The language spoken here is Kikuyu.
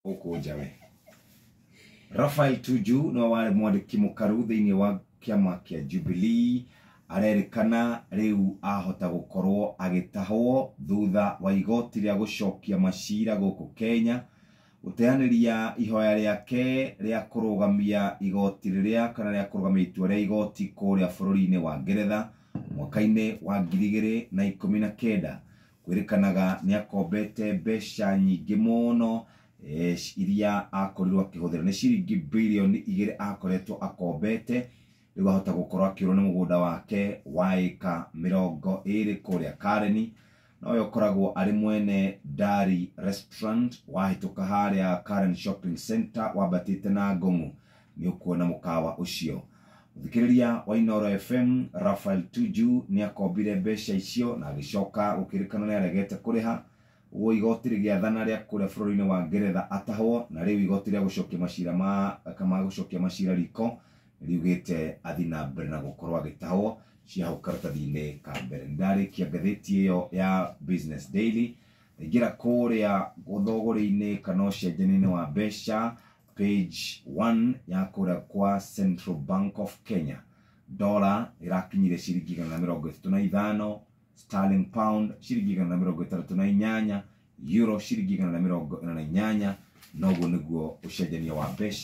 gũkũ njawe rafael tuju nĩwe warĩ mwandĩki mũkaru thĩinĩ wa kĩama kĩa jubilee arerĩkana rĩu ahota gũkorwo agĩtahwo thutha wa igoti rĩa gũcokia macira gũkũ kenya gũteanĩria ihoya rĩake rĩa kũrũgamia igoti rĩrĩa kana rĩa kũrũgamia itua rĩa igoti kũrĩa bũrũri-inĩ wa ngeretha mwaka-inĩ wa ngiri igĩrĩ na ikũmi na kenda kwĩrĩkanaga nĩ akombete mbeca nyingĩ mũno eh, iria akorirwo akĩhũthĩra nĩ ciringi bilioni igĩrĩ akoretwo akombete rĩu ahota gũkorwo akĩũrwo nĩ mũgũnda wake wa ĩka mĩrongo ĩrĩ kũrĩa kareni na ũyũ ũkoragwo arĩ mwene Dari Restaurant wahĩtũka harĩa Karen Shopping Center wambatĩte na Ngong'u nĩ ũkuona mũkawa ũcio mũthikĩrĩria wa inoro fm rafael tuju nĩ akombire mbeca icio na agĩcoka gũkĩrĩkana nĩ aregete kũrĩha ũguo igoti rĩgĩathana rĩa kũrĩa bũrũri-inĩ wa ngeretha atahwo na rĩu igoti rĩa gũcokia macira ma kama gũcokia macira riko riugĩte athi na mbere na gũkorwo agĩtahwo cia hau karatathi-inĩ ka mbere ndarĩkia ngathĩti ĩyo ya business daily ndaingĩra kũrĩa ũthogorĩ-inĩ kana ũcenjania-inĩ wa mbeca Page one ya kũrĩa kwa Central Bank of Kenya, dollar ĩrakinyire ciringi igana na mĩrongo ĩtatũ na ithano, sterling pound ciringi igana na mĩrongo ĩtandatũ na inyanya, euro ciringi igana na mĩrongo ĩna na inyanya, na ũguo nĩguo ũcenjania wa mbeca.